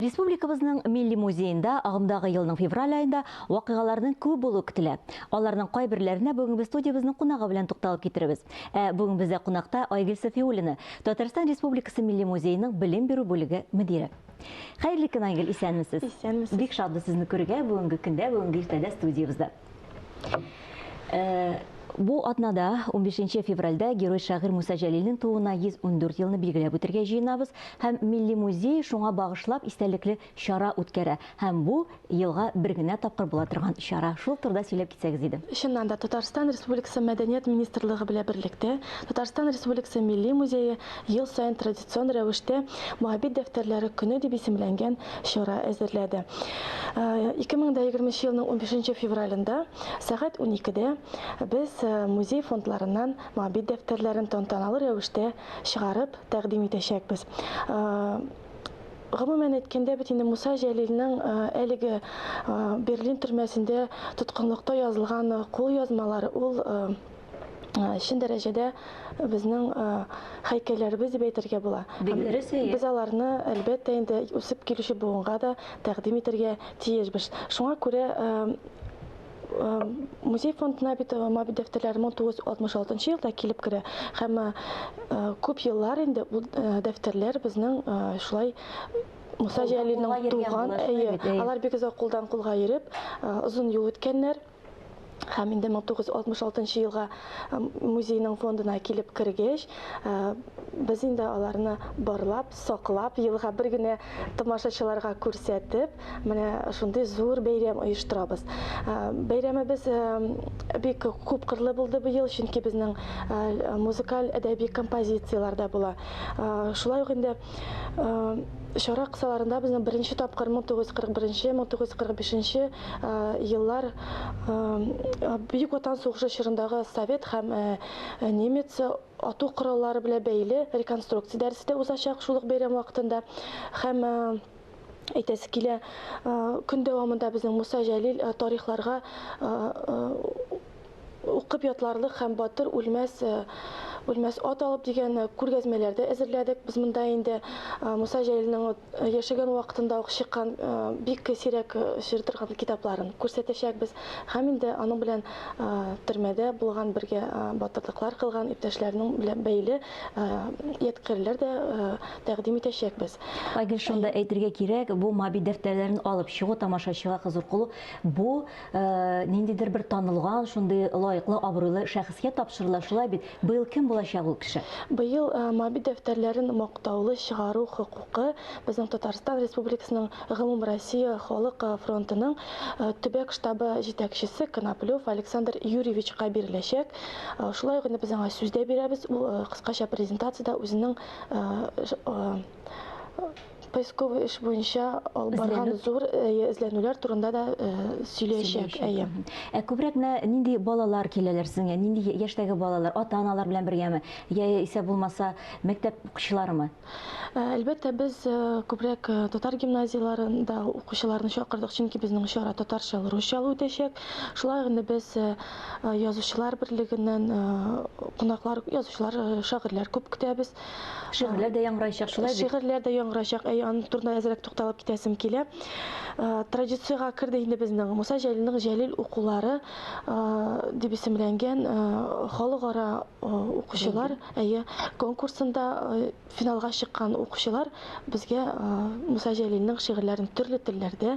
Республикабызның Милли музеенда агымдагы елның февраль аенда вакыйгаларның күп булуы көтелә. Аларның кайберләренә бүгенге студиябезнең кунагы белән тукталып китерербез. Ә бүген бездә кунакта Айгөл Сафиуллина, Татарстан Республикасы Милли музееның белем бирү бүлеге мөдире. Хәерле көн, Айгөл, исәнмесез? Исәнмесез. Бик шатбыз сезне күрергә бүгенге көндә, бүгенге иртәдә студиябездә. Ә, Бу атнада, 15 февральдә, герой-шагыйрь Муса Җәлилнең тууына 114 елны билгеләп үтәргә җыенабыз һәм Милли музей шуңа багышлап истәлекле чара үткәрә һәм бу, елга бер генә тапкыр була торган чара. Шул турыда сөйләп китсәгез иде. Чыннан да, Татарстан Республикасы Мәдәният министрлыгы белән берлектә Татарстан Республикасы Милли музее ел саен традицион традицион рәвештә Моабит дәфтәрләре көне дип исемләнгән чара әзерләде. 2020 э, елның 15 февралендә сәгать 12-дә без э, музей фондларыннан Моабит дәфтәрләрен тантаналы рәвештә чыгарып тәкъдим итәчәкбез. Э, гомумән әйткәндә бит инде Муса Җәлилнең э, әлеге э, Берлин төрмәсендә тоткынлыкта язылган э, кулъязмалары ул чын дәрәҗәдә безнең һәйкәлләребез дип әйтергә була. Без аларны, әлбәттә, инде үсеп килүче буынга да тәкъдим итәргә тиешбез. Шуңа күрә музей фондына бит Мабит дәфтәрләре 1966 елда килеп керә һәм күп еллар инде бу дәфтәрләр безнең шулай Муса Җәлилнең туган, алар бик озак кулдан кулга йөреп, озын юл үткәннәр. Һәм инде 1966 елга музейның фондына килеп кергәч, без инде аларны барлап, саклап, елга бер генә тамашачыларга күрсәтеп, менә шундый зур бәйрәм оештырабыз. Бәйрәмебез бик күп кырлы булды быел, чөнки безнең музыкаль әдәби композицияләр дә була. Шулай ук инде Чара кысаларында безнең беренче тапкыр 1941-1945 еллар Бөек Ватан сугышы чорындагы совет һәм немец ату кораллары белән бәйле реконструкция дәресе дә узачак шул ук бәйрәм вакытында һәм әйтәсе килә көн дәвамында безнең Муса Җәлил тарихларга Укып ятларлык һәм Батыр үлмәс, үлмәс ат алып дигән күргәзмәләр дә әзерләдек. Без монда инде Муса Җәлилнең яшәгән вакытында ук чыккан бик сирәк очрый торган китапларын күрсәтәчәкбез һәм инде аның белән төрмәдә булган, бергә батырлыклар кылган иптәшләрнең белән бәйле ядкарьләр дә тәкъдим итәчәкбез. Айгөл, шунда әйтергә кирәк, бу Маби дәфтәрләрен алып чыгу тамашачыга кызыкылу, бу ниндидер бер танылган, шундый лаеклы, абруйлы шәхескә тапшырыла. Шулай бит? Быел кем булачак ул кеше? Быел Моби дәфтәрләрен мактаулы чыгару хокукы безнең Татарстан Республикасының Гомумроссия халык фронтының төбәк штабы җитәкчесе Коноплев Александр Юрьевичка биреләчәк. Шулай ук инде без аңа сүз дә бирәбез, ул кыскача презентациядә үзенең поисковый эш буенча алып барган зур эзләнүләр турында да сөйләячәк. Әйе. Ә күбрәк менә нинди балалар киләләр сезгә? Нинди яшьтәге балалар? Ата-аналар белән бергәме? Я исә булмаса мәктәп укучыларымы? Әлбәттә, без күбрәк татар гимназияләрендә укучыларны чакырдык, чөнки безнең чара татарча, русча үтәчәк. Шулай гына без язучылар берлегеннән кунаклар, язучылар, шагыйрьләр күп көтәбез. Шигырьләр дә яңгырайчак, шулай бит? Шигырьләр дә яңгырайчак. Әй, аның турында әзрәк тукталып китәсем килә. Традициягә керде инде безнең Муса Җәлилнең Җәлил укулары дип исемләнгән халыкара укучылар, әйе, конкурсында финалга чыккан укучылар безгә Муса Җәлилнең шигырьләрен төрле телләрдә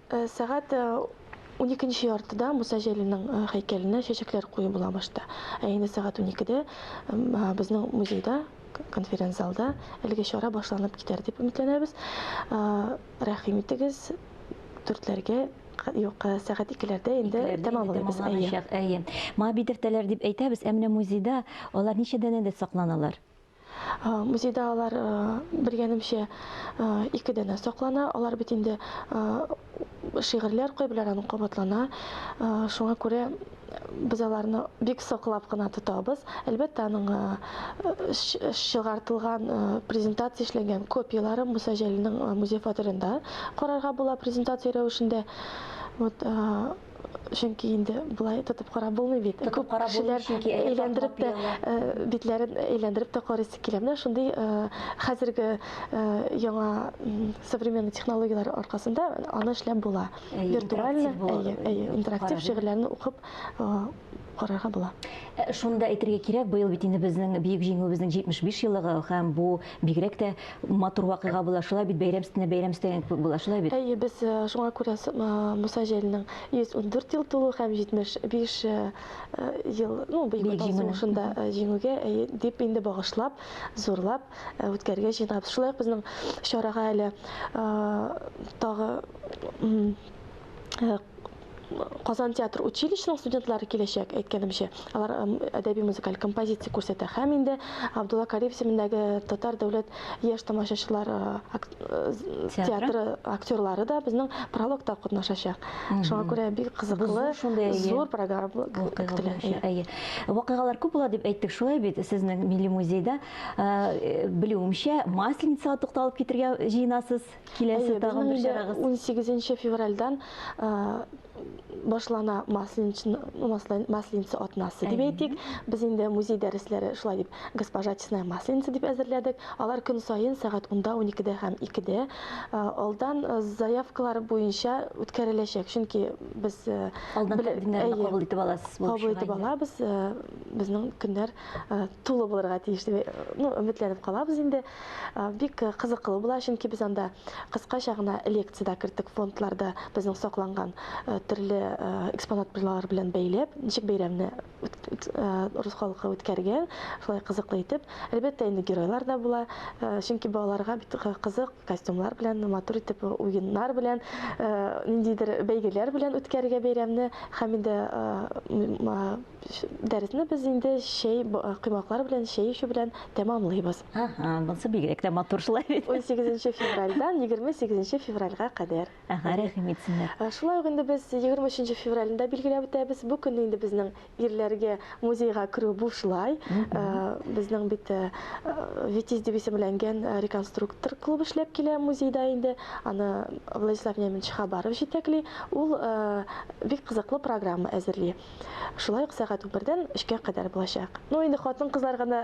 Сәгать уникенче яртыда Муса Җәлилнең һәйкәленә чәчәкләр кую була башта. Ә инде сәгать уникедә безнең музейда конференц-залда әлеге чара башланып китәр дип өметләнәбез. Рәхим итегез, дүртләргә юк, сәгать икеләрдә инде тәмамлыйбыз. Әйе. Әйе. Моңа битертәләр дип әйтәбез, ә менә музейда алар ничә данәдә сакланалар? Музейда алар белгәнемчә ике дәнә саклана. Алар бит инде шигырьләр кайберләр аның кабатлана. Шуңа күрә без аларны бик саклап кына тотабыз. Әлбәттә, аның чыгартылган презентация эшләнгән копияләре Муса Җәлилнең музей фатирында карарга була презентация рәвешендә. Вот чөнки инде болай тотып карап булмый бит. Тотып карап кешеләр әйләндереп тә битләрен әйләндереп тә карыйсы килә. Менә шундый хәзерге яңа современный технологияләр аркасында аны эшләп була. Виртуаль, интерактив шигырьләрне укып карарга була. Э, шуны да әйтергә кирәк, быел бит инде безнең Бөек Җиңүебезнең 75 еллыгы һәм бу бигрәк тә матур вакыйга була. Шулай бит бәйрәм өстенә бәйрәм өстәгән кебек була, шулай бит. Әйе, без э, шуңа күрә э, Муса Җәлилнең 114 ел тулу һәм 75 ел, ну, Бөек Ватан сугышында җиңүгә әйе дип инде багышлап, зурлап үткәрергә җыенабыз. Шулай ук безнең чарага әле тагы Казан театр училищесының студентлары киләчәк, әйткәнемчә. Алар әдәби-музыкаль композиция күрсәтә. Һәм инде Абдулла Кариев исемендәге Татар дәүләт яшь тамашачылар театры актерлары да безнең прологта катнашачак. Шуңа күрә бик кызыклы, зур программа көтелә. Әйе. Вакыйгалар күп була дип әйттек, шулай бит, сезнең Милли музейда. Белүемчә, Масленицага тукталып китергә җыенасыз. Киләсе тагын бер чарагыз. 18 февральдан башлана масленица атнасы дип әйтик. Без инде музей дәресләре шулай дип госпожа Чесная масленица дип әзерләдек. Алар көн саен сәгать 10-да, 12-дә һәм 2-дә алдан заявкалар буенча үткәреләчәк. Чөнки без алдан тәкъдимнәрне кабул итеп аласыз булып чыга. Кабул итеп алабыз. Безнең көннәр тулы булырга тиеш дип, ну, өметләнеп калабыз инде. Бик кызыклы була, чөнки без анда кыскача гына лекция дә керттек фондларда безнең сакланган төрле экспонат белән бәйләп, ничек бәйрәмне урыс халкы үткәргән, шулай кызыклы итеп. Әлбәттә, инде геройлар да була, чөнки балаларга бит кызык костюмнар белән, матур итеп уеннар белән, ниндидер бәйгеләр белән үткәрергә бәйрәмне һәм инде дәресне без инде чәй коймаклар белән, чәй эчү белән тәмамлыйбыз. Ага, булса бигрәк тә матур шулай бит. 18 февральдан 28 февральга кадәр. Ага, рәхим итсеннәр. Ә, Шулай ук инде без 23 февральдә билгеләп үтәбез. Бу көнне инде безнең ирләргә музейга керү бушлай. Ә, Безнең бит ә, ә, Витязь дип исемләнгән ә, реконструктор клуб эшләп килә музейда инде. Аны Владислав Немович Хабаров җитәкли. Ул ә, бик кызыклы программа әзерли. Шулай ук сәгать унбердән өчкә кадәр булачак. Ну, инде хатын-кызлар гына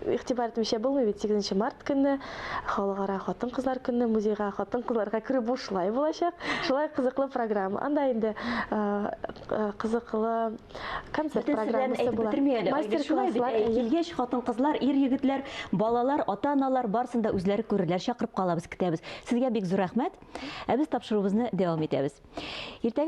игътибар итмичә булмый бит. 8 март көнне халыкара хатын-кызлар көнне музейга хатын-кызларга керү бушлай булачак. Шулай кызыклы программа. Анда инде кызыклы концерт программасы була. Мастер-класслар килгәч, хатын-кызлар, ир-егетләр, балалар, ата-аналар барсын да үзләре күрерләр. Чакырып калабыз, көтәбез. Сезгә бик зур рәхмәт. Ә без тапшыруыбызны дәвам итәбез. Иртәгә